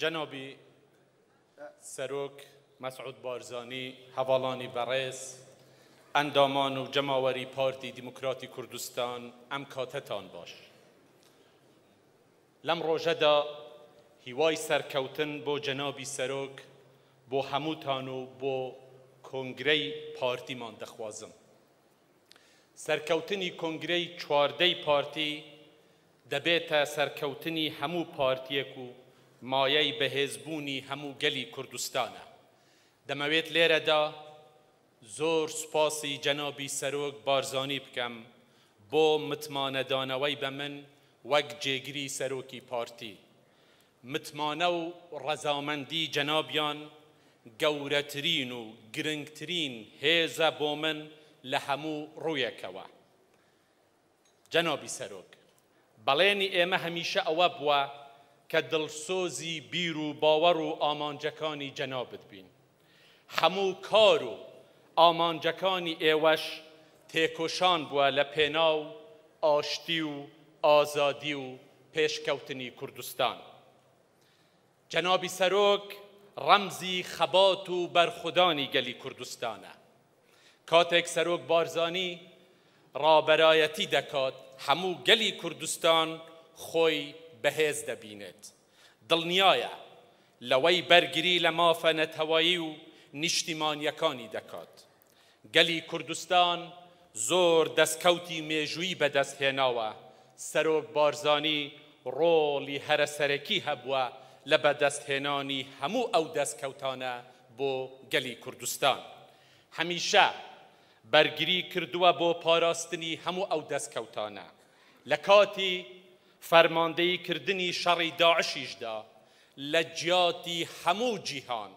جەنابی سەرۆک مەسعود بارزانی هەڤاڵانی بەڕێز، ئەندامان و جەماوەری پارتی دیموکراتی کوردستان ئەم کاتەتان باش. لەم ڕۆژەدا هیوای سەرکەوتن بۆ جەنابی سەرۆک، بۆ هەمووتان و بۆ کۆنگرەی پارتیمان دەخوازم. سەرکەوتنی کۆنگرەی چواردەی پارتی، دەبێتە سەرکەوتنی هەموو پارتیەک و مایەی بەهێزبوونی هەموو گەلی کوردستانە. دەمەوێت لێرەدا زۆر سوپاسی جەنابی سەرۆک بارزانی بکەم بۆ متمانەدانەوەی بە من وەک جێگری سەرۆکی پارتی. متمانە و ڕەزامەندی جەنابیان گەورەترین و گرنگترین هێزە بۆ من لە هەموو ڕوویەکەوە. جەنابی سەرۆک، بەڵێنی ئێمە هەمیشە ئەوە بووە کە دڵسۆزی بیر و باوەڕ و ئامانجەکانی جەنابت بین. هەموو کار و ئامانجەکانی ئێوەش تێکۆشان بووە لە پێناو ئاشتی و ئازادی و پێشکەوتنی کوردستان. جەنابی سەرۆک ڕەمزی خەبات و بەرخودانی گەلی کوردستانە. کاتێک سەرۆک بارزانی ڕابەرایەتی دەکات، هەموو گەلی کوردستان خۆی بەهێز دەبینێت. دڵنیایە لەوەی بەرگری لە مافە نەتەوەیی و نیشتیمانییەکانی دەکات. گەلی کوردستان زۆر دەستکەوتی مێژووی بەدەست هێناوە، سەرۆک بارزانی ڕۆڵی هەرە سەرەکی هەبووە لە بەدەست هێنانی هەموو ئەو دەستکەوتانە بۆ گەلی کوردستان. هەمیشە بەرگری کردووە بۆ پاراستنی هەموو ئەو دەستکەوتانە. لە کاتی فەرماندەیی کردنی شەڕی داعشیشدا لە جیاتی هەموو جیهان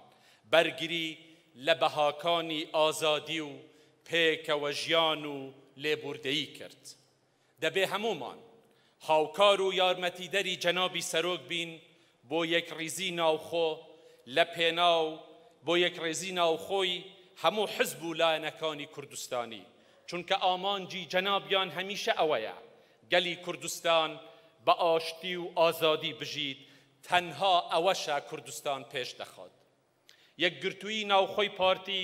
بەرگری لە بەهاکانی ئازادی و پێکەوەژیان و لێبووردەیی کرد. دەبێ هەموومان هاوکار و یارمەتیدەری جەنابی سەرۆک بین بۆ یەکڕیزی ناوخۆ لە پێناو بۆ یەکڕێزی ناوخۆی هەموو حزب و لایەنەکانی کوردستانی، چونکە ئامانجی جەنابیان هەمیشە ئەوەیە گەلی کوردستان بە ئاشتی و ئازادی بژیت تەنها ئەوەشە کوردستان پێش دەخات. یەکگرتوویی ناوخۆی پارتی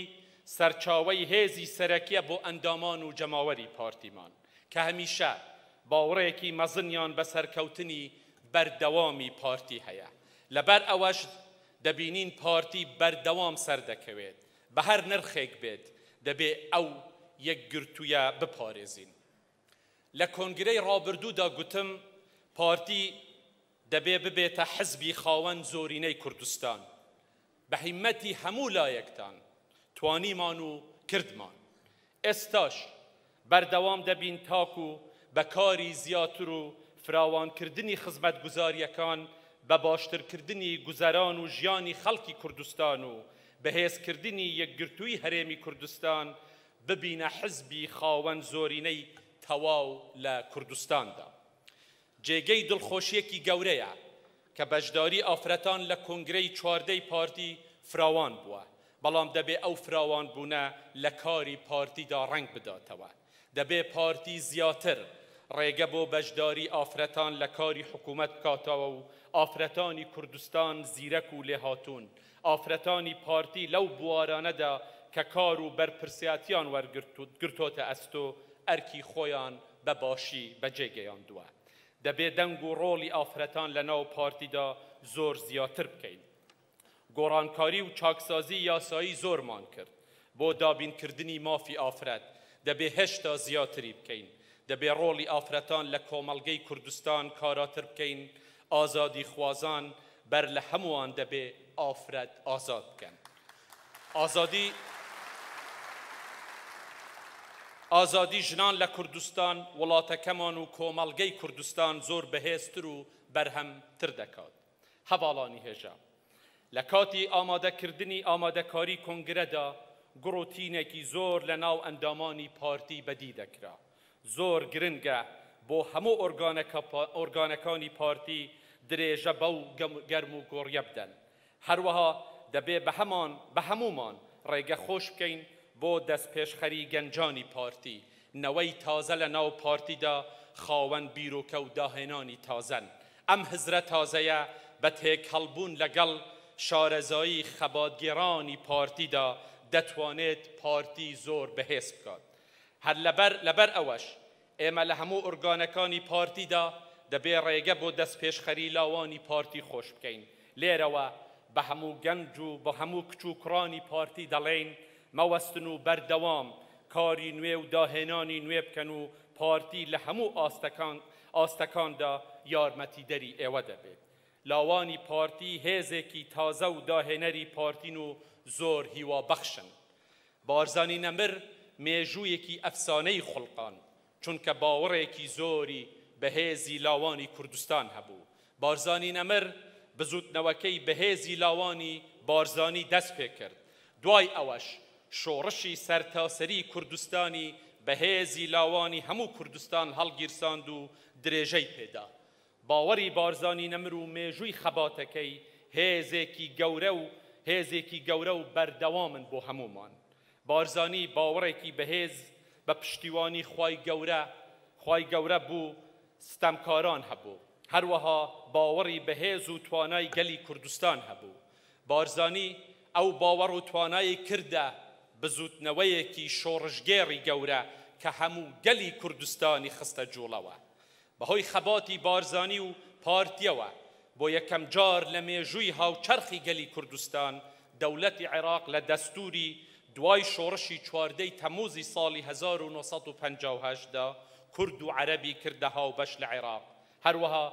سەرچاوەی هێزی سەرەکیە بۆ ئەندامان و جەماوەری پارتیمان کە هەمیشە باوڕێکی مەزنیان بە سەرکەوتنی بەردەوامی پارتی هەیە لەبەر ئەوەش دەبینین پارتی بەردەوام سەردەکەوێت بە هەر نرخێک بێت دەبێ ئەو یەکگرتوویە بپارێزین لە کۆنگرەی ڕابردوودا گوتم پارتی دەبێ ببێتە حزبی خاوەن زۆرینەی کوردستان، بە هیمەتی هەموو لایەکتان توانیمان و کردمان، ئێستاش بەردەوام دەبین تاکو بە کاری زیاتر و فراوانکردنی خزمەتگوزارییەکان بە باشترکردنی گوزەران و ژیانی خەڵکی کوردستان و بەهێزکردنی یەکگرتووی هەرێمی کوردستان ببینە حزبی خاوەن زۆرینەی تەواو لە کوردستاندا. جێگەی دڵخۆشییەکی گەورەیە کە بەشداری ئافرەتان لە کۆنگرەی چواردەی پارتی فراوان بووە، بەڵام دەبێ ئەو فراوانبوونە لە کاری پارتیدا ڕەنگ بداتەوە. دەبێ پارتی زیاتر ڕێگە بۆ بەشداری ئافرەتان لە کاری حکوومەت بکاتەوە و ئافرەتانی کوردستان زیرەک و لێهاتوون ئافرەتانی پارتی لەو بوارانەدا کە کار و بەرپرسیاتیان وەرگرتۆتە ئەستۆ، ئەرکی خۆیان بە باشی بەجێگەیاندووە. دەبێ دەنگ و ڕۆڵی ئافرەتان لە ناو پارتیدا زۆر زیاتر بکەین. گۆڕانکاری و چاکسازی یاسایی زۆرمان کرد، بۆ دابینکردنی مافی ئافرەت دەبێ هێشتا زیاتری بکەین، دەبێ ڕۆڵی ئافرەتان لە کۆمەڵگەی کوردستان کاراتر بکەین، ئازادیخوازان بەر لە هەمووان دەبێ ئافرەت ئازاد بکەن. ئازادی ئازادی ژنان لە کوردستان، وڵاتەکەمان و کۆمەڵگەی کوردستان زۆر بەهێزتر و بەرهەمتر دەکات. هەڤاڵانی هێژا لە کاتی ئامادەکردنی ئامادەکاری کۆنگرەدا گوڕ و تینێکی زۆر لە ناو ئەندامانی پارتی بەدی دەکرا. زۆر گرنگە بۆ هەموو ئۆرگانەکانی پارتی درێژە بەو گەرموگۆڕیە بدەن. هەروەها دەبێ بە هەموومان ڕێگە خۆش بکەین بۆ دەستپێشخەری گەنجانی پارتی نەوەی تازە لە ناو پارتیدا خاوەن بیرۆکە و داهێنانی تازەن. ئەم هزرە تازەیە بە تێکهەڵبوون لەگەڵ شارەزایی خەباتگێڕانی پارتیدا دەتوانێت پارتی زۆر بەهێز بکات. هەر لەبەر لەبەر ئەوەش ئێمە لە هەموو ئورگانەکانی پارتیدا دەبێ ڕێگە بۆ دەستپێشخەری لاوانی پارتی خۆش بکەین. لێرەوە بە هەموو گەنج و بە هەموو کچ و کوڕانی پارتی دەڵێین، مەوەستن و بەردەوام کاری نوێ و داهێنانی نوێ بکەن و پارتی لە هەموو ئاستەکان ئاستەکاندا یارمەتیدەری ئێوە دەبێت. لاوانی پارتی هێزێکی تازە و داهێنەری پارتین و زۆر هیوابەخشن. بارزانی نەمر مێژوویەکی ئەفسانەی خوڵقاند. چونکە باوەڕێکی زۆری بەهێزی لاوانی کوردستان هەبوو. بارزانی نەمر بزووتنەوەکەی بەهێزی لاوانی بارزانی دەست پێکرد. دوای ئەوەش شۆڕشی سەرتاسەری کوردستانی بەهێزی لاوانی هەموو کوردستان هەڵگیرساند و درێژەی پێدا. باوەڕی بارزانی نەمر و مێژووی خەباتەکەی هێزێکی گەورە و هێزێکی گەورە و بەردەوامن بۆ هەموومان. بارزانی باوەڕێکی بەهێز بە پشتیوانی خوای گەورە خوای گەورە بو ستەمکاران هەبوو. هەروەها باوەڕی بەهێز و توانای گەلی کوردستان هەبوو. بارزانی ئەو باوەڕ و توانای کردە بزوتنەوەیەکی شۆڕشگێڕی گەورە کە هەموو گەلی کوردستانی خستە جوڵەوە. بەهۆی خەباتی بارزانی و پارتییەوە، بۆ یەکەم جار لە مێژووی هاوچەرخی گەلی کوردستان، دەولەتی عێراق لە دەستووری دوای شۆڕشی چواردە ی تەمووزی ساڵی هەزار و نۆ سەد و پەنجا و هەشت دا، کورد و عەرەبی کردە هاوبەش لە عێراق. هەروەها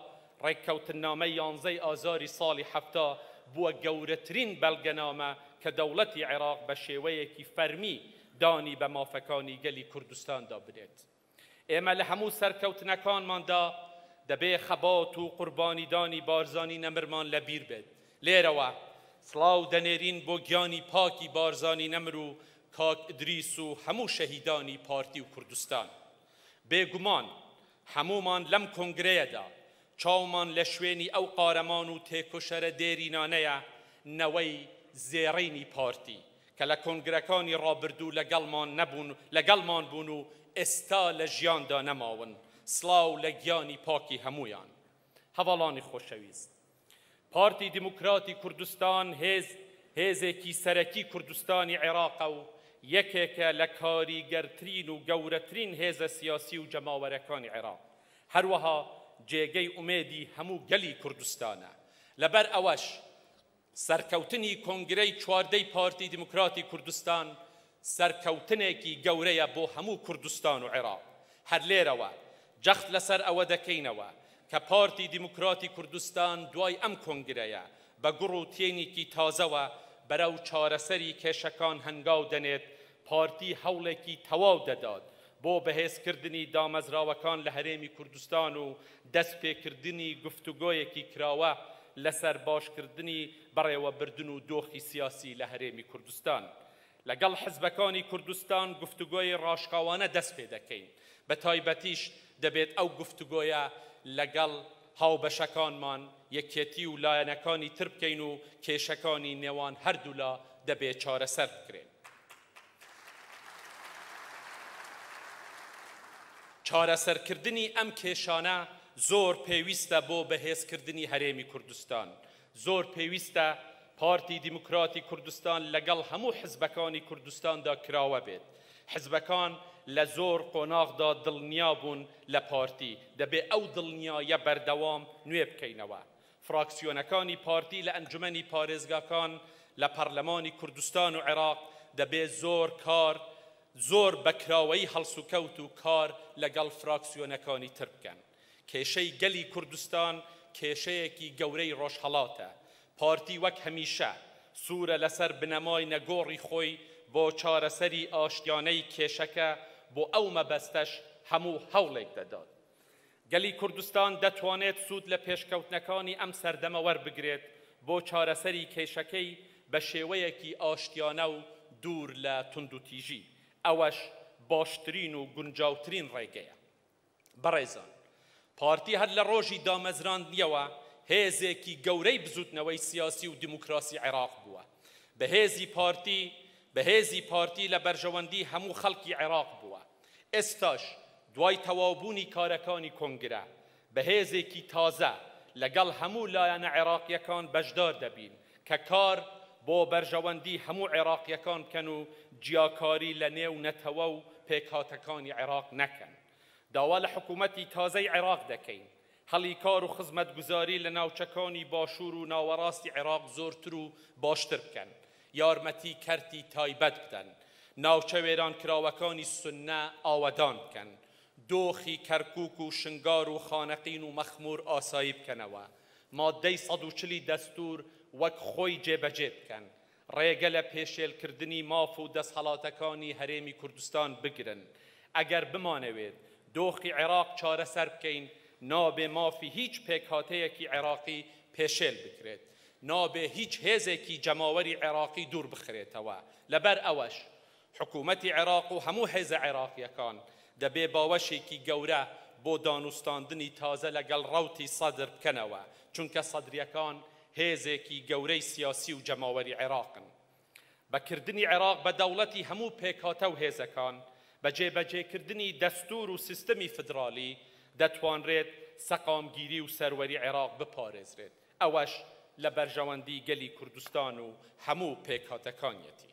ڕێککەوتننامەی یانزە ی ئازاری ساڵی حەفتا بووە گەورەترین بەلگەنامە کە دەوڵەتی عێراق بە شێوەیەکی فەرمی دانی بە مافەکانی گەلی کوردستاندا بنێت. ئێمە لە هەموو سەرکەوتنەکانماندا دەبێ خەبات و قوربانیدانی بارزانی نەمرمان لە بیر بێت. لێرەوە سڵاو دەنێرین بۆ گیانی پاکی بارزانی نەمر و کاک ئیدریس و هەموو شەهیدانی پارتی و کوردستان. بێگومان هەموومان لەم کۆنگرەیەدا چاومان لە شوێنی ئەو قارەمان و تێکۆشەرە دێرینانەیە، نەوەی زێڕینی پارتی، کە لە کۆنگرەکانی ڕابردوو لەگەڵمان نەبوون، لەگەڵمان بوون و ئێستا لە ژیاندا نەماون، سڵاو لە گیانی پاکی هەموویان. هەڤاڵانی خۆشەویست. پارتی دیموکراتی کوردستان هێز هێزێکی سەرەکی کوردستانی عێراقە و یەکێکە لە کاریگەرترین و گەورەترین هێزە سیاسی و جەماوەرەکانی عێراق. هەروەها جێگەی ئومێدی هەموو گەلی کوردستانە. لەبەر ئەوەش سەرکەوتنی کۆنگرەی چواردەی پارتی دیموکراتی کوردستان سەرکەوتنێکی گەورەیە بۆ هەموو کوردستان و عێراق. هەر لێرەوە جەخت لەسەر ئەوە دەکەینەوە کە پارتی دیموکراتی کوردستان دوای ئەم کۆنگرەیە بە گوڕ و تینیکی تازەوە بەرەو چارەسەری کێشەکان هەنگاو دەنێت پارتی هەوڵێکی تەواو دەدات بۆ بەهێزکردنی دامەزراوەکان لە هەرێمی کوردستان و دەستپێکردنی گفتوگۆیەکی کراوە لەسەر باشکردنی بەڕێوەبردن و دۆخی سیاسی لە هەرێمی کوردستان لەگەڵ حزبەکانی کوردستان گفتوگۆی ڕاشکاوانە دەستپێدەکەین بەتایبەتیش دەبێت ئەو گفتوگۆیە لەگەڵ هاوبەشەکانمان یەکێتی و لایەنەکانی تر بکەین و کێشەکانی نێوان هەردوولا دەبێت چارەسەر بکرێن. چارەسەرکردنی ئەم کێشانە زۆر پێویستە بۆ بەهێزکردنی هەرێمی کوردستان، زۆر پێویستە پارتی دیموکراتی کوردستان لەگەڵ هەموو حزبەکانی کوردستاندا کراوە بێت، حزبەکان لە زۆر قۆناغدا دڵنیابوون لە پارتی، دەبێت ئەو دڵنیایە بەردەوام نوێبکەینەوە، فراکسیۆنەکانی پارتی لە ئەنجومەنی پارێزگاکان لە پەرلەمانی کوردستان و عێراق دەبێ زۆر کار زۆر بە کراوەیی هەڵسوکەوت و کار لەگەڵ فراکسیۆنەکانی تر بکەن. کێشەی گەلی کوردستان کێشەیەکی گەورەی ڕۆژهەڵاتە. پارتی وەک هەمیشە سوورە لەسەر بنەمای نەگۆڕی خۆی بۆ چارەسەری ئاشتیانەی کێشەکە، بۆ ئەو مەبەستەش هەموو هەوڵێک دەدات. گەلی کوردستان دەتوانێت سوود لە پێشکەوتنەکانی ئەم سەردەمە وەربگرێت بۆ چارەسەری کێشەکەی بە شێوەیەکی ئاشتیانە و دوور لە توندوتیژی، ئەوەش باشترین و گونجاوترین ڕێگەیە. بەڕێزان، پارتی هەر لە ڕۆژی دامەزراندنیەوە هێزێکی گەورەی بزووتنەوەی سیاسی و دیموکراسی عێراق بووە. بەهێزی پارتی بەهێزی پارتی لە بەرژەوەندی هەموو خەڵکی عێراق بووە. ئێستاش دوای تەواوبوونی کارەکانی کۆنگرە، بە هێزێکی تازە لەگەڵ هەموو لایەنە عێراقییەکان بەشدار دەبین کە کار بۆ بەرژەوەندی هەموو عێراقییەکان بکەن و جیاکاری لە نێو نەتەوە و پێکهاتەکانی عێراق نەکەن. داوا لە حکوومەتی تازەی عێراق دەکەین، هەلی کار و خزمەتگوزاری لە ناوچەکانی باشوور و ناوەڕاستی عێراق زۆرتر و باشتر بکەن، یارمەتی کەرتی تایبەت بدەن، ناوچە وێرانکراوەکانی سنە ئاوەدان بکەن، دۆخی کەرکووک و شنگار و خانەقین و مەخموور ئاسایی بکەنەوە، ماددەی سەد و چل ی دەستوور وەک خۆی جێبەجێ بکەن، ڕێگە لە پێشێلکردنی ماف و دەسهەڵاتەکانی هەرێمی کوردستان بگرن. ئەگەر بمانەوێت دۆخی عێراق چارەسەر بکەین، نابێ مافی هیچ پێکهاتەیەکی عێراقی پێشێل بکرێت. نابێ هیچ هێزێکی جەماوەری عێراقی دووربخرێتەوە. لەبەر ئەوەش حکوومەتی عێراق و هەموو هێزە عێراقییەکان دەبێ باوەشێکی گەورە بۆ دانوستاندنی تازە لەگەڵ ڕەوتی سەدر بکەنەوە، چونکە سەدرییەکان هێزێکی گەورەی سیاسی و جەماوەری عێراقن. بە کردنی عێراق بە دەوڵەتی هەموو پێکهاتە و هێزەکان، بە جێبەجێکردنی دەستوور و سیستمی فیدرالی، دەتوانرێت سەقامگیری و سەروەری عێراق بپارێزرێت، ئەوەش لە بەرژەوەندی گەلی کوردستان و هەموو پێکهاتەکانیەتی.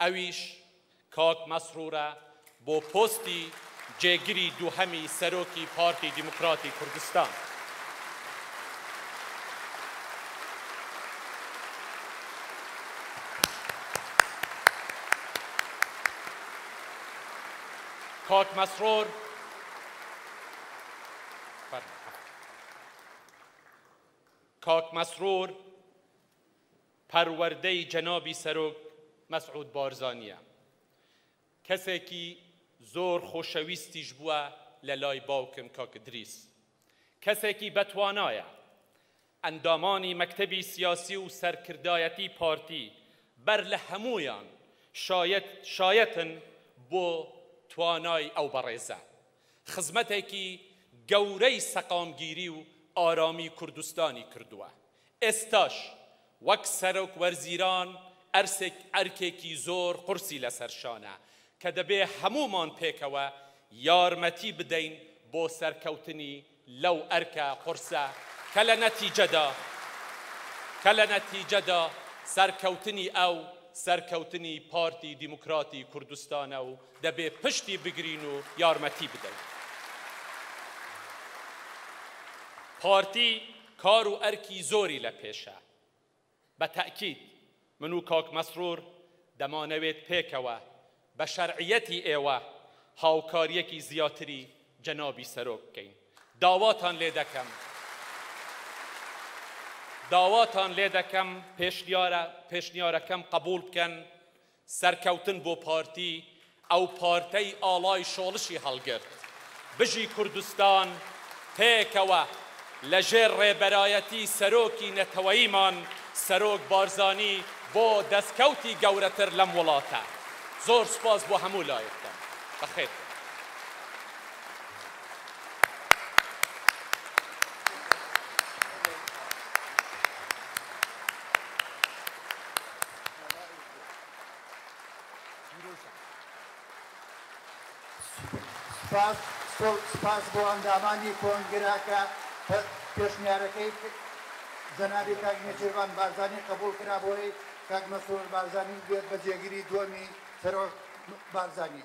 ئەویش کاک مەسرورە بۆ پۆستی جێگری دووهەمی سەرۆکی پارتی دیموکراتی کوردستان. کاک مەسرور کاک مەسرور پەروەردەی جەنابی سەرۆک مەسعود بارزانیە کەسێکی زۆر خۆشەویستیش بووە لەلای باوکم کاک ادریس کەسێکی بەتوانایە ئەندامانی مەکتەبی سیاسی و سەرکردایەتی پارتی بەر لە هەموویان شایەت شایەتن بۆ توانای ئەو بەڕێزە خزمەتێکی گەورەی سەقامگیری و ئارامی کوردستانی کردووە ئێستاش وەک سەرۆک وەرزیران ئەرسێک ئەرکێکی زۆر قورسی لەسەر شانە کە دەبێ هەموومان پێکەوە یارمەتی بدەین بۆ سەرکەوتنی لەو ئەرکە قورسە کە لە نەتیجەدا کە لە نەتیجەدا سەرکەوتنی ئەو سەرکەوتنی پارتی دیموکراتی کوردستانە و دەبێ پشتی بگرین و یارمەتی بدەین. پارتی کار و ئەرکی زۆری لە پێشە. بە تەئکید من و کاک مەسرور دەمانەوێت پێکەوە بە شەرعیەتی ئێوە هاوکاریەکی زیاتری جەنابی سەرۆک بکەین. داواتان لێ دەکەم داواتان لێ دەکەم پێشنیارە پێشنیارەکەم قبوڵ بکەن سەرکەوتن بۆ پارتی ئەو پارتەی ئاڵای شۆڵشی هەڵگرت بژی کوردستان پێکەوە لە ژێر ڕێبەرایەتی سەرۆکی نەتەوەیمان سەرۆک بارزانی بۆ دەستکەوتی گەورەتر لەم وڵاتە زۆر سوپاس بۆ هەموو لایەکتان بەخێر بێن. سپاس بۆ ئەندامانی کۆنگرە کە پێشنیارەکەی جەنابی کاک نێچیرڤان بارزانی قبوڵ کرا بۆی کاک مەسرور بارزانی بێت بە جێگری دووەمی سەرۆک بارزانی.